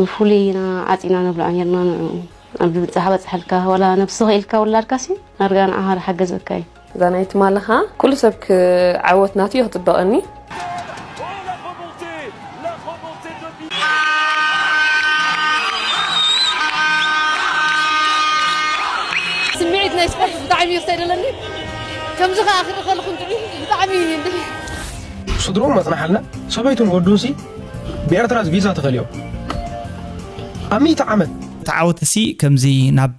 ንፍሉይ ኢና ዓጺና ነብልዓ ኔርና ንዑ ኣብ ድብጻሕ በጽሐልካ ወላ ነብሲ ክኢልካ ውላድካ ሲ ኣርጋ ንዓኻ ዝሓገዘካ እዩ እዛ ናይ ትማልኻ ኩሉ ሰብ ክዓወት ናቱ እዩ ክጽበቐኒ ስምዒት ናይ ስፖርት ብጣዕሚ እዩ ዘስተደለኒ ከምዚ ከዓ ክርኢ ከለኹ ብጣዕሚ ስድርኡም ኣጽናሓልና ሰበይቱን ወዱንሲ ብኤርትራ ቪዛ ተኸልዮም ኣብ ሚእቲ ዓመት ተዓወትሲ ከምዚ ናብ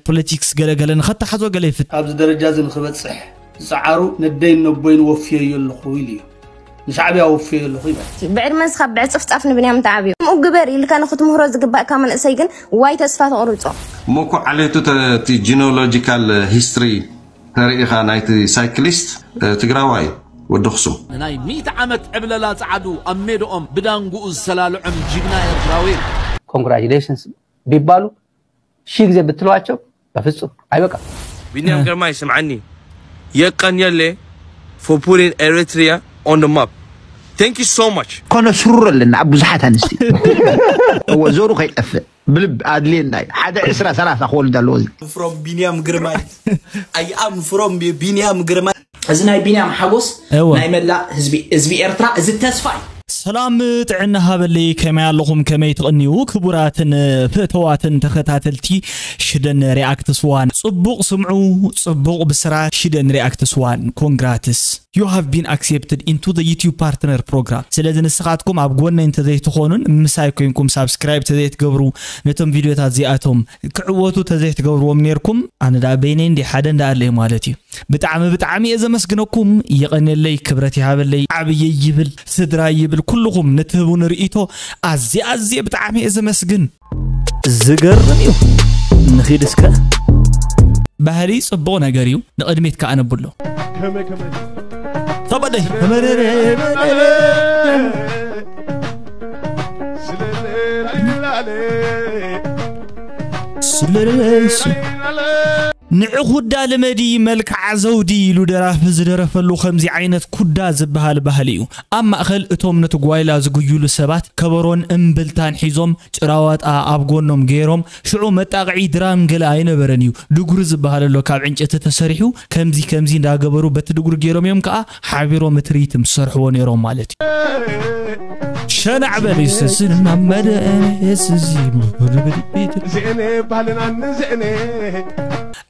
ፖለቲክስ ገለ ገለ ንኸተሓዞ ገለ ይፍት ኣብዚ ደረጃ እዚ ንክበጽሕ ዝጸዓሩ ነደይን ነቦይን ወፍየዮ ኣለኹ ኢሉ እዩ ንሻዕብያ ወፍየዮ ኣለኹ ይበል ብዕድመን ስኻብ ብዕጽፍጻፍ ንብንያም ተዓብዩ ከምኡ ግበር ኢልካ ንክትምህሮ ዝግባእካ መንእሰይ ግን ዋይ ተስፋ ተቑርጾ። እሞ እኮ ዓሌቱ እቲ ጂኖሎጂካል ሂስትሪ ተርእኻ ናይቲ ሳይክሊስት ትግራዋይ ወዲ ኣኽሱም። ንናይ ሚእቲ ዓመት ዕብለላ ጸዓዱ ኣብ ሜድኦም ብዳንጉኡ ዝሰላልዖም ጂግና ኤርትራዊ። Congratulations ቢባሉ ሺህ ግዜ ብትለዋቸው በፍጹም ኣይበቃም። ቢንያም ግርማይ ስምዓኒ የቀንየለይ for putting Eritrea on the map thank you so much። ከነስርሮ ኣለና ኣብ ብዙሓት ኣንስቲ እወ ዘሩ ከይጠፍእ። ብልብ ኣድልየና እዩ ሓደ ዕስራ ሰላሳ ክወልድ ኣለዎ እዚ ፍሮም ቢንያም ግርማይ ኣይኣም ፍሮም ቢንያም ግርማይ እዚ ናይ ቢንያም ሓጎስ እወ ናይ መላእ ህዝቢ ህዝቢ ኤርትራ እዚ ተስፋ እዩ። ሰላም ጥዕና ሃበለይ ከመይ ኣለኹም ከመይ ትቕንዩ ክቡራትን ፍእተዋትን ተኸታተልቲ ሽደን ሪኣክትስ ዋን ጽቡቕ ስምዑ ጽቡቕ ብስራት ሽደን ሪኣክትስ ዋን ኮንግራትስ። You have been accepted into the YouTube Partner Program ስለዚ ንስኻትኩም ኣብ ጎነይ እንተዘይትኾኑን ምሳይ ኮይንኩም ሳብስክራይብ ተዘይትገብሩ ነቶም ቪድዮታት እዚኣቶም ክዕወቱ ተዘይትገብርዎም ነይርኩም ኣነ ደኣ በይነይ እንዲ ሓደ እንዳ ኣለየ ማለት እዩ ብጣዕሚ ብጣዕሚ እየ ዘመስግነኩም የቐንየለይ ክብረት ይሃበለይ ዓብየይ ይብል ስድራይ ይብል ኩልኹም ንትህቡኒ ርእይቶ ኣዝየ ኣዝየ ብጣዕሚ እየ ዘመስግን ዝገርም እዩ ንኺድ እስከ ባህሊ ጽቡቕ ነገር እዩ ንቕድሚት ከዓ ነብሎ ተበደይ ስለለይሲ ንዕ ኩዳ ልመዲ መልክዓ ዘውዲ ኢሉ ደራፊ ዝደረፈሉ ከምዚ ዓይነት ኩዳ ዝበሃል ባህሊ እዩ ኣብ ማእከል እቶም ነቲ ጓይላ ዝጉይሉ ሰባት ከበሮን እምብልታን ሒዞም ጭራዋጣ ኣብ ጎኖም ገይሮም ሽዑ መጣቕዒ ድራም ገለ ኣይነበረን እዩ ድጉሪ ዝብሃል ኣሎ ካብ ዕንጨቲ ተሰሪሑ ከምዚ ከምዚ እንዳገበሩ በቲ ድጉሪ ገይሮም እዮም ከኣ ሓቢሮም እቲ ሪትም ዝሰርሕዎ ነይሮም ማለት እዩ ሸናዕ በል ይሰስን ናመደ የስዚ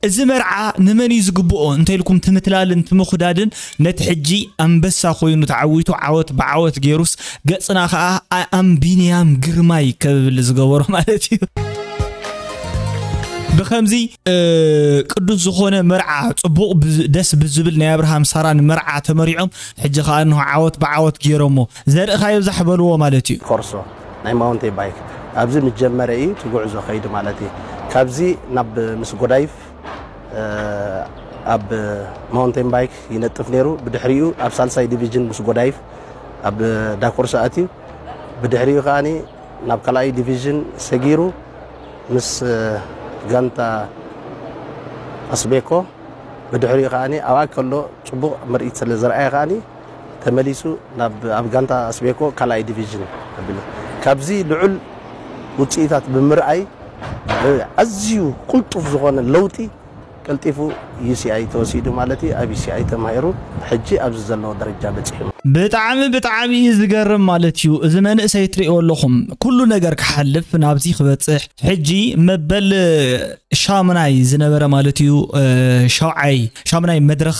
እዚ መርዓ ንመን እዩ ዝግብኦ እንተኢልኩም ትምትላልን ትምኹዳድን ነቲ ሕጂ ኣንበሳ ኮይኑ ተዓዊቱ ዓወት ብዓወት ገይሩስ ገጽና ከኣ ኣኣም ቢንያም ግርማይ ከብል ዝገበሮ ማለት እዩ ብከምዚ ቅዱስ ዝኾነ መርዓ ጽቡቕ ደስ ብዝብል ናይ ኣብርሃም ሳራን መርዓ ተመሪዖም ሕጂ ከዓ እንሆ ዓወት ብዓወት ገይሮሞ ዘርእኻ ይብዛሕ በልዎ ማለት እዩ ኮርሶ ናይ ማውንቴ ባይክ ኣብዚ ምጀመረ እዩ ትጉዕዞ ከይዲ ማለት እዩ ካብዚ ናብ ምስ ጎዳይፍ ኣብ ማውንቴን ባይክ ይነጥፍ ነይሩ ብድሕሪኡ ኣብ ሳልሳይ ዲቪዥን ምስ ጎዳይፍ ኣብ ዳኮርሳ ኣትዩ ብድሕሪኡ ከዓኒ ናብ ካልኣይ ዲቪዥን ሰጊሩ ምስ ጋንታ ኣስቤኮ ብድሕሪኡ ከዓኒ ኣብኣ ከሎ ፅቡቕ ምርኢት ስለ ዘርኣየ ከዓኒ ተመሊሱ ናብ ኣብ ጋንታ ኣስቤኮ ካልኣይ ዲቪዥን ኣቢሉ ካብዚ ልዑል ውፅኢታት ብምርኣይ ኣዝዩ ቁልጡፍ ዝኾነ ለውጢ ቀልጢፉ ዩሲኣይ ተወሲዱ ማለት እዩ ኣብ ዩሲኣይ ተማሂሩ ሕጂ ኣብዚ ዘለዎ ደረጃ በፂሑ። ብጣዕሚ ብጣዕሚ እዩ ዝገርም ማለት እዩ እዚ መንእሰይ ትሪእዎ ኣለኹም ኩሉ ነገር ክሓልፍ ናብዚ ክበፅሕ ሕጂ መበል ሻሙናይ ዝነበረ ማለት እዩ ሻውዓይ ሻሙናይ መድረኽ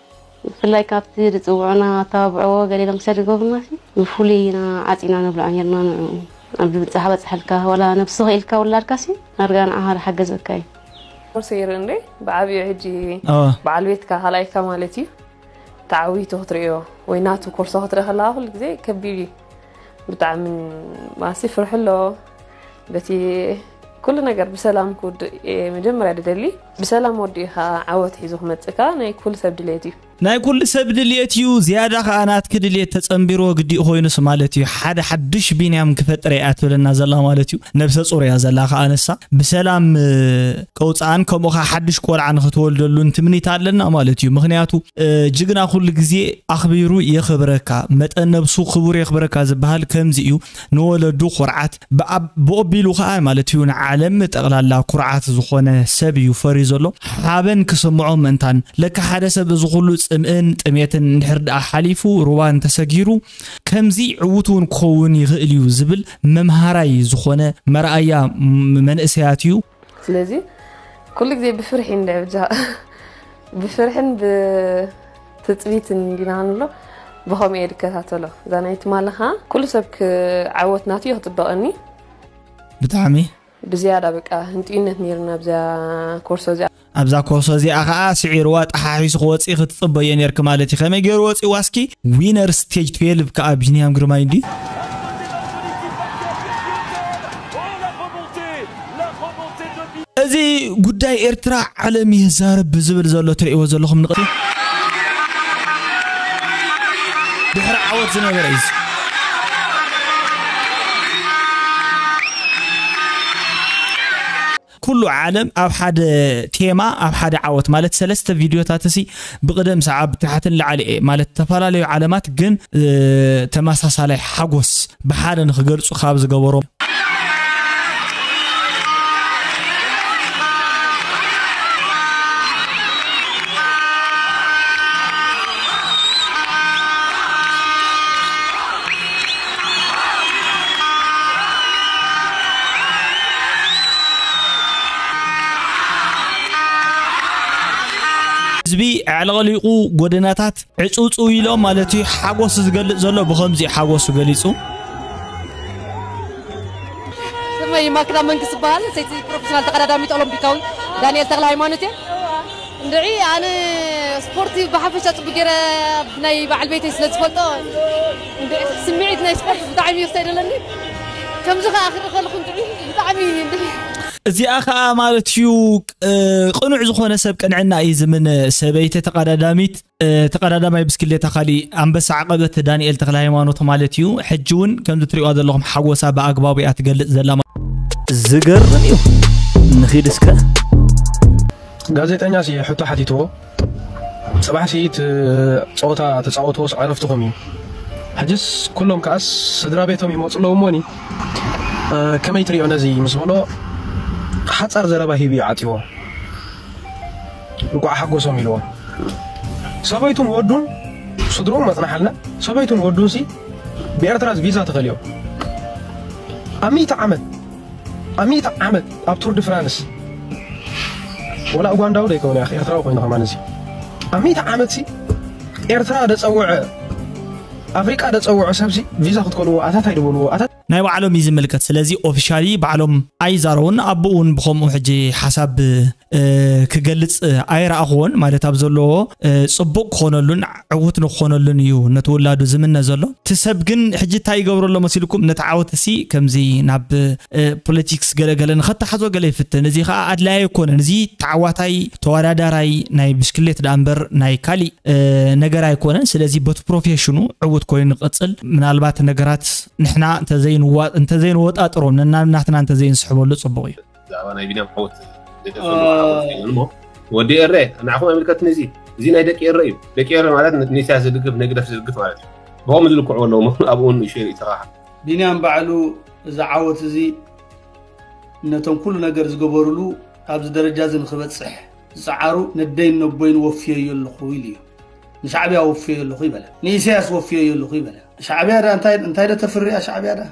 ብፍላይ ካብቲ ዝጽውዑና ኣተባብዕዎ ገሊሎም ክሰድ ዝገብሩናሲ ብፍሉይ ኢና ዓጺና ንብልዖ ኔርና ንዕኡ ኣብ ዝብጻሕ በጽሐልካ ወላ ነብሲ ክኢልካ ውላድካሲ ኣርጋ ንዓኻ ዝሓገዘካ እዩ። ቁርሲ ይርንዴ ብዓቢኡ ሕጂ በዓል ቤትካ ካልኣይካ ማለት እዩ ተዓዊቱ ክትርእዮ ወይ ናቱ ኮርሶ ክትርኢ ከለካ ኩሉ ግዜ ከቢድ እዩ ብጣዕሚ ማሲ ፍርሑ ኣሎ በቲ ኩሉ ነገር ብሰላም ክውድእ መጀመርያ ድደሊ ብሰላም ወዲእኻ ዓወት ሒዙ ክመጽእ ከኣ ናይ ኩሉ ሰብ ድሌት እዩ። ናይ ኩሉ ሰብ ድልየት እዩ ዝያዳ ከኣ ናትኪ ድልየት ተጸንቢርዎ ግዲኡ ኮይኑስ ማለት እዩ ሓደ ሓዱሽ ቢንያም ክፈጥር እየ እያ ትብለና ዘላ ማለት እዩ ነብሰ ጹር እያ ዘላ ከኣ ንሳ ብሰላም ከውጽኣን ከምኡ ከኣ ሓዱሽ ቆልዓ ንክትወልደሉን ትምኒት ኣለና ማለት እዩ ምክንያቱ ጅግና ኩሉ ግዜ ኣክቢሩ የክብረካ መጠን ነብሱ ክቡር የክብረካ ዝበሃል ከምዚ እዩ ንወለዱ ኩርዓት ብኣብ ብኦቢሉ ከኣ ማለት እዩ ንዓለም ጠቕላላ ኩርዓት ዝኾነ ሰብ እዩ ፈርዩ ዘሎ ሓበን ክስምዖ ምእንታን ለካ ሓደ ሰብ እዚ ኩሉ ጽምእን ጥሜትን እንድሕር ደኣ ሓሊፉ ሩባ እንተሰጊሩ ከምዚ ዕውት እውን ክኸውን ይኽእል እዩ ዝብል መምሃራይ ዝኾነ መርኣያ መንእሰያት እዩ ስለዚ ኩሉ ግዜ ብፍርሒ ንድዕብጃ ብፍርሕን ብትፅቢትን እንዲና ንብሎ ብኸምኡ እየ ዝከታተሎ እዛ ናይ ትማሊ ከዓ ኩሉ ሰብ ክዓወት ናቱ እዩ ክፅበቐኒ ብጣዕሚ ብዝያዳ በቃ ህንጥዩነት ነይርና ብዛ ኮርሶ እዚኣ ኣብዛ ኮሶ እዚኣ ከኣ ስዒርዋ ጠሓሒሱ ክወጽእ ክትጽበዮ ኔርኪ ማለት እዩ ከመይ ገይሩ ወጺእዋ እስኪ ዊነር ስቴጅ 12 ከኣ ቢንያም ግርማይ እንዲ እዚ ጉዳይ ኤርትራ ዓለም ይዛረብ ብዝብል ዘሎ ትርእይዎ ዘለኹም ንቕቲ ድሕሪ ዓወት ዝነበረ እዩ ኩሉ ዓለም ኣብ ሓደ ቴማ ኣብ ሓደ ዓወት ማለት ሰለስተ ቪድዮታት እሲ ብቅደም ሰዓብ ታሕቲ ንላዕሊ እየ ማለት ዝተፈላለዩ ዓለማት ግን ተመሳሳላይ ሓጎስ ብሓደ ንክገልፁ ካብ ዝገበሮም ህዝቢ ኣዕለቕሊቑ ጎደናታት ዕፅውፅው ኢሎ ማለት እዩ ሓጎሱ ዝገልፅ ዘሎ ብከምዚ እዩ ሓጎሱ ገሊፁ ስመይ ማክዳ መንግስት ዝበሃል ሰይቲ ፕሮፌሽናል ተቀዳዳሚት ኦሎምፒካዊ ዳንኤል ተክለ ሃይማኖት እየ እንድዒ ኣነ ስፖርቲ ብሓፈሻ ፅቡቅ ገይረ ናይ በዓል ቤተይ ስለ ዝፈልጦ እንድዒ ስምዒት ናይ ስፖርት ብጣዕሚ ይርሰ ደለኒ ከምዚ ከኣ ክርኢ ከለኹ እንድዒ ብጣዕሚ እንድዒ እዚኣ ከዓ ማለት እዩ ቅኑዕ ዝኾነ ሰብ ቅንዕና እዩ ዝምን ሰበይቲ ተቀዳዳሚት ተቀዳዳማይ ብስክሌታ ካሊእ ኣንበሳ ዓቐበት ዳንኤል ተክለ ሃይማኖት ማለት እዩ ሕጂ እውን ከምዚ ትሪእዋ ዘለኹም ሓጎሳ ብኣግባቡ እያ ትገልፅ ዘላ ዝገርም እዩ ንኺድ እስከ ጋዜጠኛ ስየ ሕቶ ሓቲትዎ ጽባሕ ሲ እቲ ጸወታ ተጻወትዎስ ዕረፍትኹም እዩ ሕጅስ ኩሎም ከኣስ ስድራቤቶም ይመጹ ኣለዉ እሞኒ ከመይ ትሪኦ ነዚ ምስ በሎ ሓጻር ዘረባ ሂቡ እዩ ዓጺዎ እንቋዕ ሓጎሶም ኢልዎ ሰበይቱን ወዱን ስድርኡም መጽናሓልና ሰበይቱን ወዱን ሲ ብኤርትራ ቪዛ ተኸልዮም ኣብ ሚእቲ ዓመት ኣብ ሚእቲ ዓመት ኣብ ቱር ዲ ፍራንስ ወላ ኡጋንዳዊ ዶ ኣይከውን ያኺ ኤርትራዊ ኮይኑ ከማን እዚ ኣብ ሚእቲ ዓመትሲ ኤርትራ ደጸውዐ ኣፍሪቃ ደጸውዖ ሰብሲ ቪዛ ክትከልዎ ኣታት ኣይድበልዎ ኣታት ናይ ባዕሎም እዩ ዝምልከት ስለዚ ኦፊሻሊ ባዕሎም ኣይዛረቡን ኣቡኡ ውን ብከምኡ ሕጂ ሓሳብ ክገልጽ ኣይረኣኽዎን ማለት ኣብ ዘለዎ ጽቡቕ ክኾነሉን ዕውት ንክኾነሉን እዩ ነቲ ውላዱ ዝምነ ዘሎ እቲ ሰብ ግን ሕጂ እንታይ ይገብሮ ኣሎ መሲልኩም ነቲ ዓወት እሲ ከምዚ ናብ ፖለቲክስ ገለገለ ንኸተሓዞ ገለ ይፍትን እዚ ከዓ ኣድላይ ኣይኮነን እዚ ተዓዋታይ ተወዳዳራይ ናይ ብሽክሌት ዳኣ እምበር ናይ ካሊእ ነገር ኣይኮነን ስለዚ በቲ ፕሮፌሽኑ ዕውት ኮይኑ ንቐፅል ምናልባት ነገራት ንሕና እንተዘይንወጣጥሮም ነናናትና እንተዘይንስሕበሉ ጽቡቕ እዩ ብዛዕባ ናይ ቢንያም ዓወት እሞ ወዲ ኤረ ንዓኹም ኣይምልከትን እዚ እዚ ናይ ደቂ ኤረ እዩ ደቂ ኤረ ማለት ንኢሳያስ ዝድግፍ ንግደፍ ዝድግፍ ማለት እዩ ብኦም ዝልክዑ ኣለዉ ኣብኡ ንእሽተይ ርእቶኻ ቢንያም ባዕሉ እዚ ዓወት እዚ ነቶም ኩሉ ነገር ዝገበሩሉ ኣብዚ ደረጃ እዚ ንክበፅሕ ዝፀዓሩ ነደይን ነቦይን ወፍየዮ ኣለኹ ኢሉ እዩ ንሻዕብያ ወፍየዮ ኣለኹ ይበለ ንኢሳያስ ወፍየዮ ኣለኹ ይበለ ሻዕብያ ዳ እንታይ ዶ ተፍርያ ሻዕብያ ዳ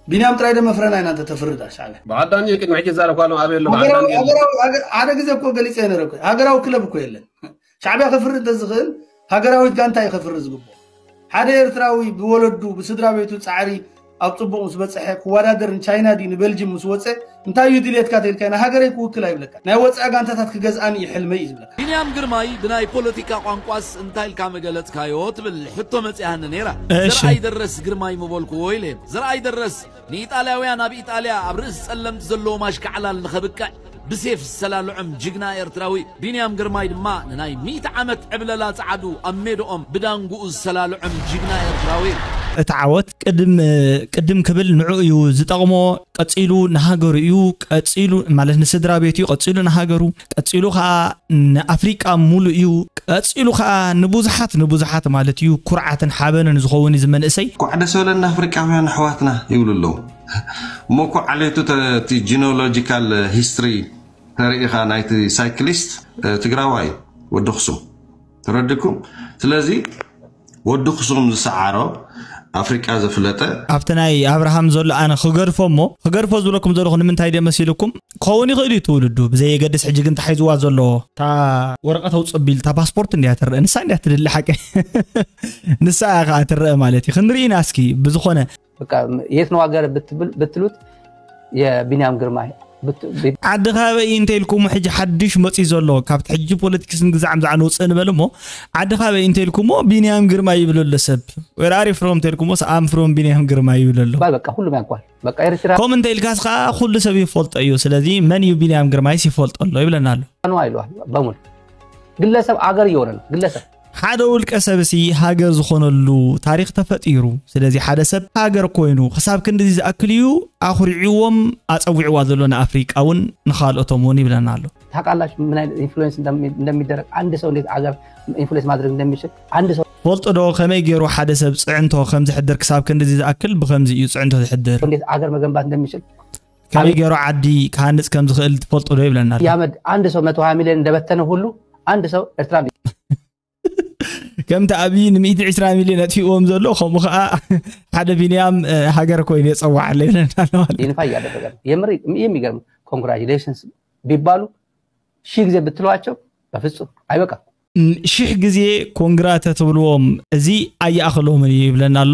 ቢንያም ጥራይ ዶ መፍረና ኢና እንተ ተፍርድ ኣብ ሻዕብያ? በዓል ዳኒ ቅድሚ ሕጂ ዝዛረብካ ኣለኹ ኣበይ ኣሎ በዓል ዳኒ የለን። ሓደ ግዜ እኮ ገሊፀ ነረ እኮ ሃገራዊ ክለብ እኮ የለን ሻዕቢያ ከፍርድ እንተዝኽእል ሃገራዊት ጋንታ እዩ ከፍርድ ዝግብኦ ሓደ ኤርትራዊ ብወለዱ ብስድራ ቤቱ ፃዕሪ ኣብ ፅቡቕ ምስ በፅሐ ክወዳደር ንቻይና ድዩ ንቤልጅም ምስ ወፀ እንታይ እዩ ድልየትካ ተይልካዮ ንሃገረይ ክውክል ኣይብለካን ናይ ወጻኢ ጋንታታት ክገዝኣን እዩ ሕልመይ እዩ ዝብለካ። ቢንያም ግርማይ ብናይ ፖለቲካ ቋንቋስ እንታይ ኢልካ ምገለጽካዮ ትብል ሕቶ መጺኣኒ ነይራ። እሺ። ዘርኣይ ደረስ ግርማይ ምበልኩዎ ኢለ። ዘርኣይ ደረስ ንኢጣልያውያን ኣብ ኢጣልያ ኣብ ርእሲ ጸለምቲ ዘለዎም ኣሽካዕላል ንኸብቅዕ ብሴፍ ዝሰላልዖም ጅግና ኤርትራዊ ቢንያም ግርማይ ድማ ንናይ ሚእቲ ዓመት ዕብለላ ጸዓዱ ኣብ ሜድኦም ብዳንጉኡ ዝሰላልዖም ጅግና ኤርትራዊ እዩ። እቲ ዓወት ቅድም ቅድም ክብል ንዕኡ እዩ ዝጠቕሞ። ቀጺሉ ንሃገሩ እዩ፣ ቀጺሉ ማለት ንስድራ ቤቱ እዩ፣ ቀጺሉ ንሃገሩ፣ ቀጺሉ ከኣ ንኣፍሪቃ ሙሉእ እዩ፣ ቀጺሉ ከኣ ንቡዙሓት ንቡዙሓት ማለት እዩ ኩርዓትን ሓበንን ዝኸውን እዚ መንእሰይ። እንኳዕ ደስ በለና ኣፍሪቃውያን ኣሕዋትና ይብሉ ኣለው እሞ እኮ ዓሌቱ እቲ ጂኖሎጂካል ሂስትሪ ተሪኢኻ ናይቲ ሳይክሊስት ትግራዋይ እዩ ወዲ ኣክሱም። ተረድኩም ስለዚ ወዲ ክሱም ዝሰዓሮ ኣፍሪቃ ዘፍለጠ ኣብቲ ናይ ኣብርሃም ዘሎ ኣነ ክገድፎ እሞ ክገድፎ ዝብለኩም ዘለኹ ንምንታይ ድየ መሲልኩም ክኸውን ይኽእል እዩ ትውልዱ ብዘየገድስ ሕጂ ግን ተሓይዝዋ ዘሎ እታ ወረቐት ኣውፅ ኣቢል እታ ፓስፖርት እንድያ ትረአ ንሳ እንድያ ትድሊ ሓቂ ንሳ እያ ከዓ ትረአ ማለት እዩ ክንርኢ ኢና እስኪ ብዝኾነ የት ነው ሀገር ብትሉት የቢንያም ግርማይ ዓዲ ካበይ እንተ ኢልኩሞ ሕጂ ሓድሽ መፅዩ ዘሎ ካብቲ ሕጂ ፖለቲክስ ንግዛዕ ምዛዕ ንውፅእ ንበል እሞ ዓዲ ካበይ እንተ ኢልኩሞ ቢንያም ግርማ ይብሎ ኣሎ ሰብ ወራሪ ፍሮም እንተ ኢልኩሞ ኣም ፍሮም ቢንያም ግርማ ይብሎ ኣሎ ከምኡ እንተ ኢልካስ ከዓ ኩሉ ሰብ ይፈልጦ እዩ ስለዚ መን እዩ ቢንያም ግርማይስ ይፈልጦ ኣሎ ይብለና ኣሎ ግለሰብ ኣገር እየሆነ ግለሰብ ሓደ ውልቀ ሰብሲ ሃገር ዝኾነሉ ታሪኽ ተፈጢሩ ስለዚ ሓደ ሰብ ሃገር ኮይኑ ክሳብ ክንዲዚ ዝኣክል እዩ ኣኹሪዕዎም ኣፀዊዕዋ ዘሎ ንኣፍሪቃ እውን ንካልኦቶም እውን ይብለና ኣሎ ታውቃላችሁ ምን አይነት ኢንፍሉዌንስ እንደሚደረግ አንድ ሰው እንዴት አገር ኢንፍሉዌንስ ማድረግ እንደሚችል አንድ ሰው ፈልጦ ዶ ከመይ ገይሩ ሓደ ሰብ ፅዕንቶ ከም ዝሕድር ክሳብ ክንዲዚ ዝኣክል ብከምዚ እዩ ፅዕንቶ ዝሕድር እንዴት አገር መገንባት እንደሚችል ካበይ ገይሩ ዓዲ ክሃንፅ ከም ዝኽእል ትፈልጡ ዶ ይብለና ኣሎ። ያመድ አንድ ሰው መቶ ሀያ ሚሊዮን እንደበተነ ሁሉ አንድ ሰው ኤርትራ ከምቲ ኣብይ ንሚእቲ ዕስራ ሚሊዮን ኣጥፊእዎም ዘሎ ከምኡ ከዓ ሓደ ቢንያም ሃገር ኮይኑ የፀዋዓለ ይብለና ኣሎ ማለት እዩ። ይንፋ እያደረገ ነው። የምር የሚገርም ኮንግራጁሌሽንስ ቢባሉ ሺህ ጊዜ ብትሏቸው በፍጹም አይበቃም። ን- ሽሕ ግዜ ኮንግራ ተትብልዎም እዚ ኣይኣኽሎምን እዩ ይብለና ኣሎ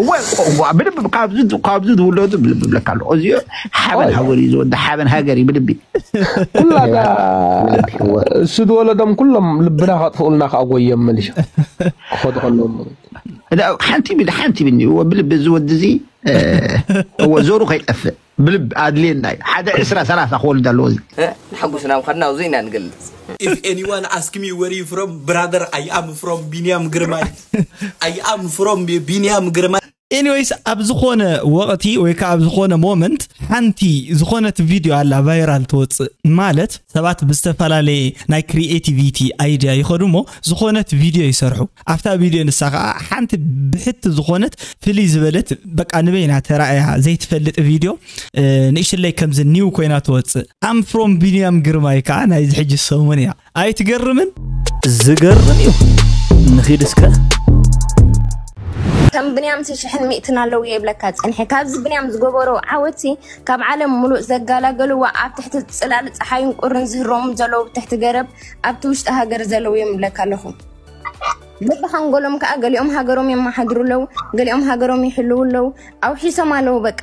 እወ እወ ብልቢ ካብዚ ካብዚ ዝውለዱ ብልቢ ብለካ ኣለኹ እዚ ሓበን ሃገር እዩ ዝወደ ሓበን ሃገር እዩ ብልቢ ኩላ እዛ ብልቢ እወ እሱ ዝወለዶም ኩሎም ልብና ከጥፍኡልና ከዓ ጎዮም መሊሻ ክኸዱ ከለዎም ላ፣ ሓንቲ ብል ሓንቲ ብኒ እወ ብልቢ እዚ ወዲ እዚ እ፣ እወ ዞሩ ከይጠፍእ ብልብ ኣድልየና እዩ ሓደ ዕስራ ሰላሳ ክወልድ ኣለዎ እዚ። ንሓጎስና ምኻድና ኣብዙይ ኢና ንገልጽ። If anyone ask me where you from brother I am from ቢንያም ግርማይ I am from ቢንያም ግርማይ። Anyways ኣብ ዝኾነ ወቕቲ ወይ ከኣ ኣብ ዝኾነ ሞመንት ሓንቲ ዝኾነት ቪድዮ ኣላ ቫይራል ትወጽእ ማለት ሰባት ብዝተፈላለየ ናይ ክሪኤቲቪቲ ኣይድያ ይኸዱ እሞ ዝኾነት ቪድዮ ይሰርሑ ኣብታ ቪድዮ ንሳ ከኣ ሓንቲ ብሕቲ ዝኾነት ፍልይ ዝበለት በቃ ንበይና ተራእያ ዘይትፈልጥ ቪድዮ ንእሽለይ ከምዚ ኒው ኮይና ትወፅእ ኣም ፍሮም ቢንያም ግርማይ ከዓ ናይዚ ሕጂ ሰሙን እያ ኣይትገርምን ዝገርም እዩ ንኺድ እስከ ከም ብንያም ሽሕን ሚእትን ኣለዉ የብለካ ፀንሐ ካብዚ ብንያም ዝገበሮ ዓወቲ ካብ ዓለም ሙሉእ ዘጋላገልዎ ኣብ ትሕቲ ፅላል ፀሓይን ቁርን ዝህሮም ዘለዉ ትሕቲ ገረብ ኣብቲ ውሽጢ ሃገር ዘለዉ እዮም ይብለካ ኣለኹ በብሓንጎሎም ከዓ ገሊኦም ሃገሮም የመሓድሩ ኣለው ገሊኦም ሃገሮም ይሕልው ኣለው ኣውሒሶም ኣለው በቃ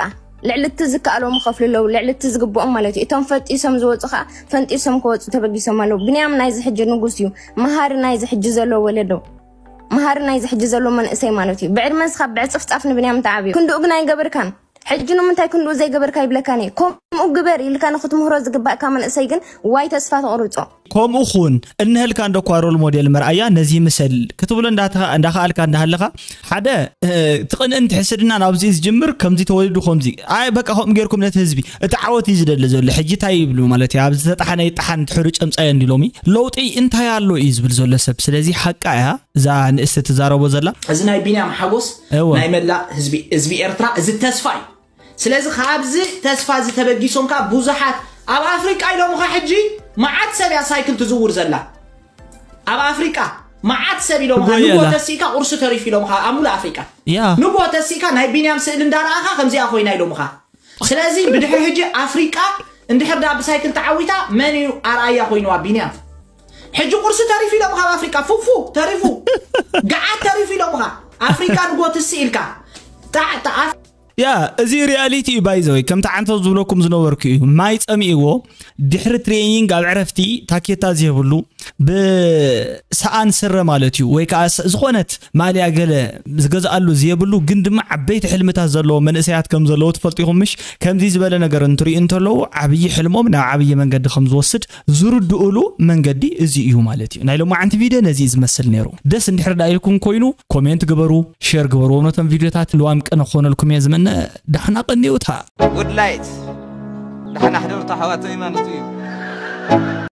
ልዕሊ እቲ ዝከኣሎም ይኸፍሉ ኣለው ልዕሊ እቲ ዝግብኦም ማለት እዩ እቶም ፈጢሶም ዝወፁ ከዓ ፈንጢሶም ክወፁ ተበጊሶም ኣለው ብንያም ናይዚ ሕጂ ንጉስ እዩ መሃሪ ናይዚ ሕጂ ዘሎ ወለዶ መሃሪ ናይዚ ሕጂ ዘሎ መንእሰይ ማለት እዩ ብዕድመ ስኻብ ብዕፅፍፃፍ ንብንያም ተዓብዩ ክንድኡ ግን ኣይገብርካን ሕጂ ንምንታይ ክንድኡ ዘይገበርካ ይብለካን እየ ከምኡ ግበር ኢልካ ንክትምህሮ ዝግባእካ መንእሰይ ግን ዋይ ተስፋ ተቕርጾ። ከምኡ ኩን እንሀልካ እንዶ እኳ ሮል ሞዴል መርኣያ ነዚ ምሰል ክትብሎ እንዳከኣልካ እንዳሃለኻ ሓደ ትቕንእን ትሕስድናን ኣብዚኡ ዝጅምር ከምዚ ተወሊዱ ከምዚ ኣይ በቃ ከምኡ ጌርኩም ነቲ ህዝቢ እቲ ዓወት እዩ ዝደሊ ዘሎ ሕጂ እንታይ ይብሉ ማለት እዩ ኣብ ዝተጣሓነ ይጣሓን ትሕሩ ጨምጻዮ እንዲ ሎሚ ለውጢ እንታይ ኣሎ እዩ ዝብል ዘሎ ሰብ ስለዚ ሓቃ እያ እዛ ንእስቲ ትዛረቦ ዘላ እዚ ናይ ቢንያም ሓጎስ ናይ መላእ ህዝቢ ኤርትራ እዚ ተስፋ እዩ ስለዚ ካብዚ ተስፋ እዚ ተበጊሶም ከዓ ብዙሓት ኣብ ኣፍሪቃ ኢሎምኻ ሕጂ መዓት ሰብ እያ ሳይክል ትዝውር ዘላ ኣብ ኣፍሪቃ መዓት ሰብ ኢሎምኻ ጎየላ። ንጎ ተሲእካ ቁርሲ ተሪፍ ኢሎምኻ ኣብ ሙሉእ ኣፍሪቃ ያ ንጎ ተሲእካ ናይ ቢንያም ስእሊ እንዳረኣኻ ከምዚኣ ኮይና ኢሎምኻ ስለዚ ብድሕሪ ሕጂ ኣፍሪቃ እንድሕር ዳ ብሳይክል ተዓዊታ መን እዩ ኣርኣያ ኮይንዋ ቢንያም ሕጂ ቁርሲ ተሪፉ ኢሎም ካብ ኣፍሪቃ ፉፉ ተሪፉ ገዓት ተሪፉ ኢሎምኻ ኣፍሪቃ ንጎ ትሲ ኢልካ ጣዕ ጣዕ ያ እዚ ሪያሊቲ እዩ ባይዘወይ ከምቲ ዓንተው ዝብለኩም ዝነበርኩ እዩ ማይ ፀሚእዎ ድሕሪ ትሬኒንግ ኣብ ዕረፍቲ ታኬታ ዝህብሉ ብሰኣን ስረ ማለት እዩ ወይ ከዓ ዝኾነት ማልያ ገለ ዝገዝኣሉ ዝየብሉ ግን ድማ ዓበይቲ ሕልምታት ዘለዎ መንእሰያት ከም ዘለዎ ትፈልጡ ኢኹም ምሽ ከምዚ ዝበለ ነገር እንትሪኡ እንተለዉ ዓብዪ ሕልሞም ናብ ዓብዪ መንገዲ ከም ዝወስድ ዝርድኡሉ መንገዲ እዚ እዩ ማለት እዩ። ናይ ሎማዓንቲ ቪድዮ ነዚ እዩ ዝመስል ነይሩ። ደስ እንድሕር ደኣ ኢልኩም ኮይኑ ኮሜንት ግበሩ፣ ሼር ግበርዎም ነቶም ቪድዮታት ልዋም ቅነ ክኾነልኩም እየ ዝምነ። ዳሕና ቀንዩታ። Woodlight ዳሕና ሕደሩታ ኣሕዋተይ ማለቱ እዩ።